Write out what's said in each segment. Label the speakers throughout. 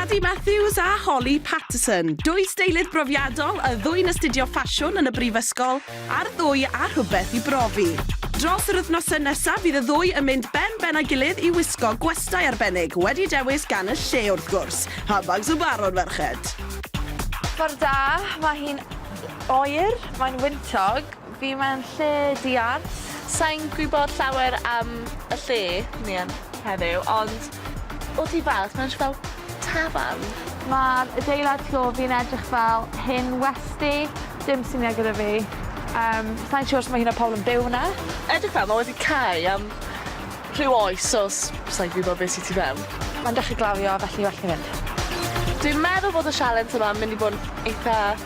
Speaker 1: Cadi Matthews a Holly Patterson, dwy steilydd brofiadol, y ddwy'n astudio ffasiwn yn y brifysgol, a'r ddwy â rhywbeth i brofi. Dros yr wythnosau nesaf bydd y ddwy yn mynd ben ben â'i gilydd i wisgo gwestai arbennig, wedi dewis gan y lle wrth gwrs. Handbags y Baron, merched! Ffordd da, mae hi'n oer, mae'n wyntog. Fi mewn lle diarth. Sai'n gwybod llawer am y lle ni yn heddiw, ond o tu fas mae'n edrych fel tafarn. Mae'r adeilad tu ôl fi'n edrych fel hen westy, dim syniad gyda fi. Yym, sai'n siŵr os mae hyn o pobl yn byw yna. Edrych fel mae wedi cau am rhyw oes os sai'n gwybod beth sy tu fewn. Mae'n dechrau glawio felly well fi fynd. Dwi'n meddwl bod y sialens yma yn mynd i bod yn eitha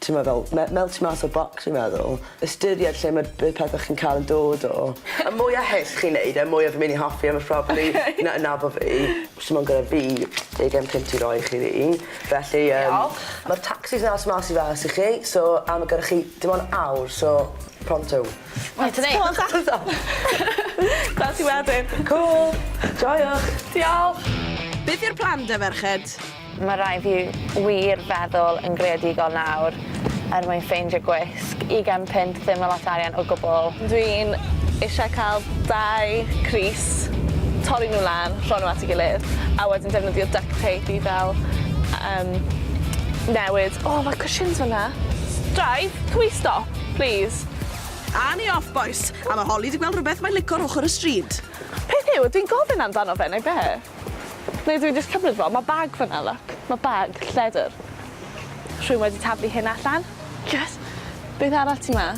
Speaker 1: timod fel me- mel- tu mas o'r bocs fi'n meddwl. Ystyried lle ma' y pethe chi'n ca'l yn dod o. Y mwya hyll chi'n neud e y mwya fi myn' i hoffi e ma' probably... Oce. ...na- nabo fi. Sdim ond gyda fi deugen punt i roi i chi rili felly yym... Diolch. Ma'r tacsis mas mas i fas i chi so a ma' gyda chi dim on' awr so pronto. Reit te neis. Cŵl ta. Gwel' ti wedyn. Cŵl. Joio. Diolch. Beth yw'r plan 'da ferched? Mae rhaid fi wir feddwl yn greadigol nawr er mwyn ffeindio gwisg. Ugain punt ddim yn lot o arian o gwbl. Dwi'n eisiau cael dau crys, torri nhw lan, rho nhw at ei gilydd, a wedyn defnyddio duct tape i fel yym newid. O mae cushions fan'na! Drive can we stop please? A ni off bois! A ma Holly di gweld rwbeth mae'n lico ar ochr y stryd. Peth yw, dwi'n gofyn amdano fe neu be? Neu dw i jyst cymryd fo? Ma' bag fan'na look. Ma' bag lledr. Rhywun wedi taflu hyn allan. Yes! Beth arall sy 'ma?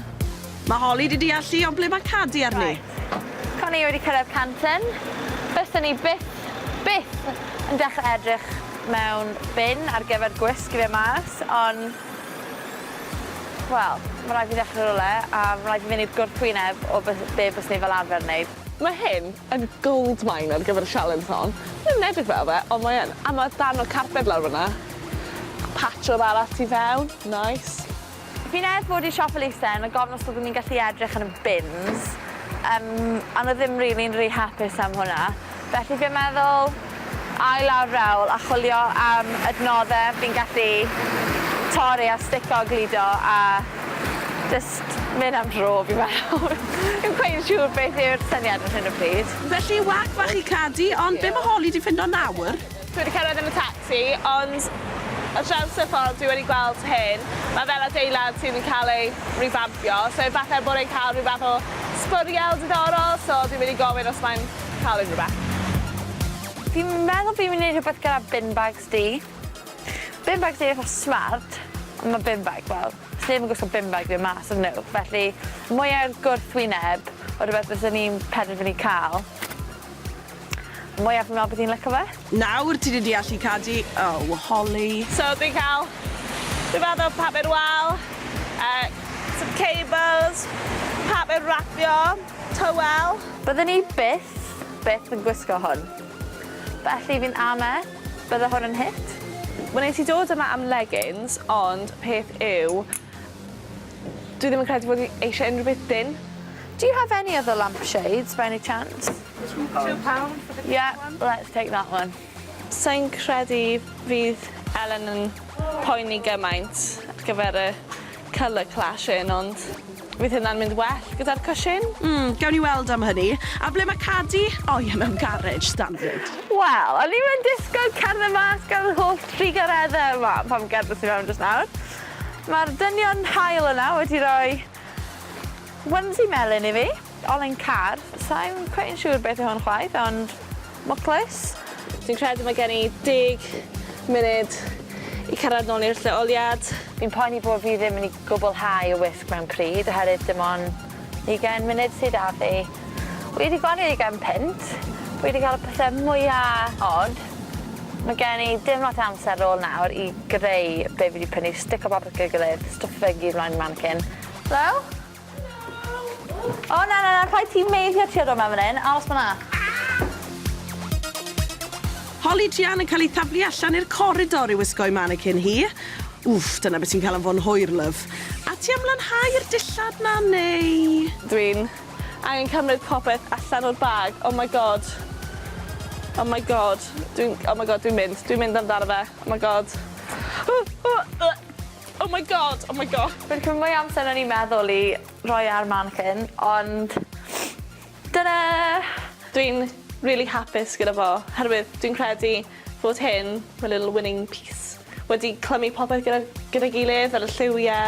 Speaker 1: Ma' Holly 'di deall lle ond ble ma' Cadi arni? Reit. Con i wedi cyrraedd Canton. Byswn i byth, byth yn dechrau edrych mewn bin ar gyfer gwisg i fe mas on' wel, ma' raid fi ddechrau rywle a ma' raid fi fynd i'r gwrthwyneb o be' byswn i fel arfer yn neud. Ma' hyn yn gold mine ar gyfer y sialens hon. Mae yn edrych fel fe, ond mae yn. A ma' darn o carped lawr fynna. Patrwm arall tu fewn, nice. Fi'n ers bod i siop elusen a gofyn os byddwn i'n gallu edrych yn y bins, yym a nhw ddim rili'n rhy hapus am hwnna. Felly fi'n meddwl Ail lawr rewl a chwilio am adnoddau fi'n gallu torri a stico a gludo a jyst mynd am dro fi'n meddwl. Fi'm cweit yn siŵr beth yw'r syniad ar hyn o bryd. Felly whack bach i Cadi, ond be mae Holly 'di ffindo nawr? Dwi wedi cyrraedd yn y tacsi, ond ar draws y ffordd dwi wedi gweld hyn, mae fel adeilad sydd yn cael ei rifampio, so efallai bod e'n cael rhyw fath o sbwriel diddorol, so dwi'n mynd i gofyn os mae'n cael unrywbeth. Fi'n meddwl fi'n myn' i neud rhwbeth gyda bin bags du. Bin bags du eitha smart on' ma' bin bag fel, sneb yn gwisgo bin bag du mas on' y'know felly mwya i'r gwrthwyneb o rwbeth fyswn i'n penderfynu ca'l mwya fi'n me'wl bydd hi'n lico fe. Nawr ti di deallu Cadi? Oh, Holly. So dwi'n cael rhyw fath o paper wal, yy some cables, paper wrapio, towel. Bydden i byth, byth yn gwisgo hwn. Felly fi'n ame, bydde hwn yn hit. Wnes i dod yma am leggings ond peth yw dwi ddim yn credu fod fi eisiau unrhyw beth dynn. Do you have any other lampshades by any chance? Two pound for the big one? Yeah, let's take that one. Sai'n credu fydd Elen yn poeni gymaint ar gyfer y colour clash hyn, ond fydd hynna'n mynd well gyda'r cwshin? Mm, gawn ni weld am hynny. A ble mae Cadi? O ie, mewn garej, standard. Wel, o'n i'm yn disgwyl cerdded mas gan yr holl drugareddau yma pan gerddais i mewn jyst nawr. Mae'r dynion hael yna wedi rhoi onesie melyn i fi. Olen Carr. Sa i'n cweit yn siŵr beth yw hwn chwaith, ond mwclis? Dwi'n credu mae gen i deg munud i cyrraedd nôl i'r lleoliad. Fi'n poeni bod fi ddim yn i gwblhau y wisg mewn pryd oherwydd dim ond ugain munud sy 'da fi. Wi 'di gwario ugain punt, wi 'di cael y pethe mwya od. Mae gen i dim lot o amser ar ôl nawr i greu be' fi 'di prynu, stico bapur at ei gilydd, stwffio fe i gyd mlaen i'r manikin. Helo? O na na na rhaid ti meiddio tua dod mewn fan hyn, aros fan'na. Holly Jean yn cael ei thaflu allan i'r coridor i wisgo'i mannequin hi. Wff, dyna beth sy'n cael anfon hwyr, love. A ti am lanhau'r dillad 'na, neu...? Dwi'n angen cymryd popeth allan o'r bag, oh my god. Oh my god, dwi'n, oh my god, dwi'n mynd, dwi'n mynd amdano fe, oh my god. Oh my God! Oh my God! Fi'n cymryd mwy o amser na o'n i'n meddwl i roi e ar mannequin, ond dyna! Dwi'n rili hapus gyda fo, herwydd dwi'n credu fod hyn, my little winning piece, wedi clymu popeth gyda gyda'i gilydd fel y lliwie.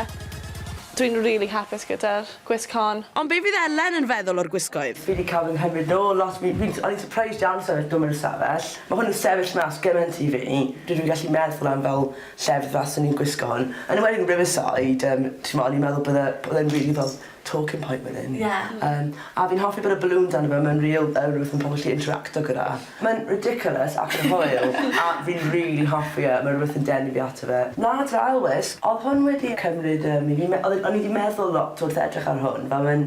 Speaker 1: Dwi'n rili hapus gyda'r gwisg hon. Ond be fydd Elen yn feddwl o'r gwisgoedd? Fi 'di ca'l fy nghymryd nôl lot fi fi'n o'n i'n surprised iawn sefyll dw'm yn y stafell ma' hwn yn sefyll mas gyment i fi dwi ddim yn gallu meddwl am fel llefydd fel 'swn i'n gwisgo hwn. Yn enwedig yn Riverside yym t'mo' o'n i'n meddwl bydde o'dd e'n rili fel talking point wedyn. Ie. Yym a fi'n hoffi bod y balŵns arno fe mae'n ril- yy rwbeth ma' pobol gallu interacto gyda. Mae'n ridiculous ac yn hwyl a fi'n rili hoffi e ma' rwbeth yn denu fi ato fe. Na t'mo' ail wisg, odd hwn wedi cymryd yym i fi me- odd e'n o'n i 'di meddwl lot wrth edrych ar hwn fel mae'n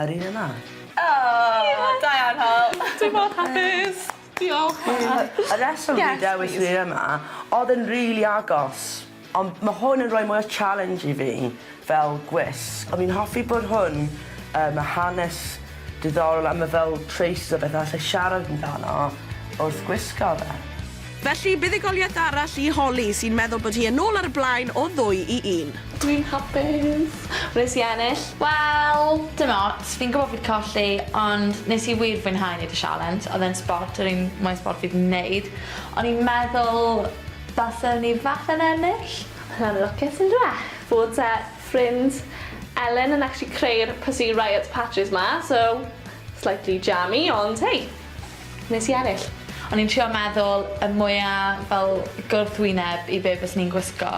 Speaker 1: Yr un yna. Aww! Da iawn Hywel. Dwi mor hapus. Diolch. Y rheswm fi dewis lle yma odd e'n rili agos ond ma' hwn yn roi mwy o challenge i fi fel gwisg. O'n i'n hoffi bod hwn yy ma' hanes diddorol a ma' fel traces o beth allai siarad amdano wrth gwisgo fe. Felly, buddugoliaeth arall i Holly, sy'n meddwl bod hi yn ôl ar y blaen o ddwy i un. Dwi'n hapus! Wnes i ennill! Wel, dim ots, fi'n gwybod fi 'di colli, ond nes i wir fwynhau neud y sialens, oedd e'n sbort, yr un mwya sbort fi 'di neud. O'n i'n meddwl baswn i falle yn ennill. Mae'n anlwcus on'd yw e? Fod t'a ffrind Elen yn actually creu'r Pussy Riot patches 'ma, so slightly jammy, ond hei! Nes i ennill. O'n i'n trio meddwl y mwya fel gwrthwyneb i be fyswn i'n gwisgo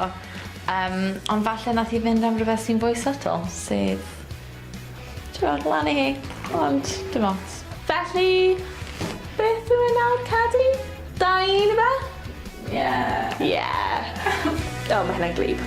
Speaker 1: yym ond falle nath hi fynd am rwbeth sy'n fwy subtle sef t'mod lan i hi ond dim ots. Felly beth yw e nawr Cadi? Dau i un ife? Ie. Ie. O ma' hynna'n gwlyb.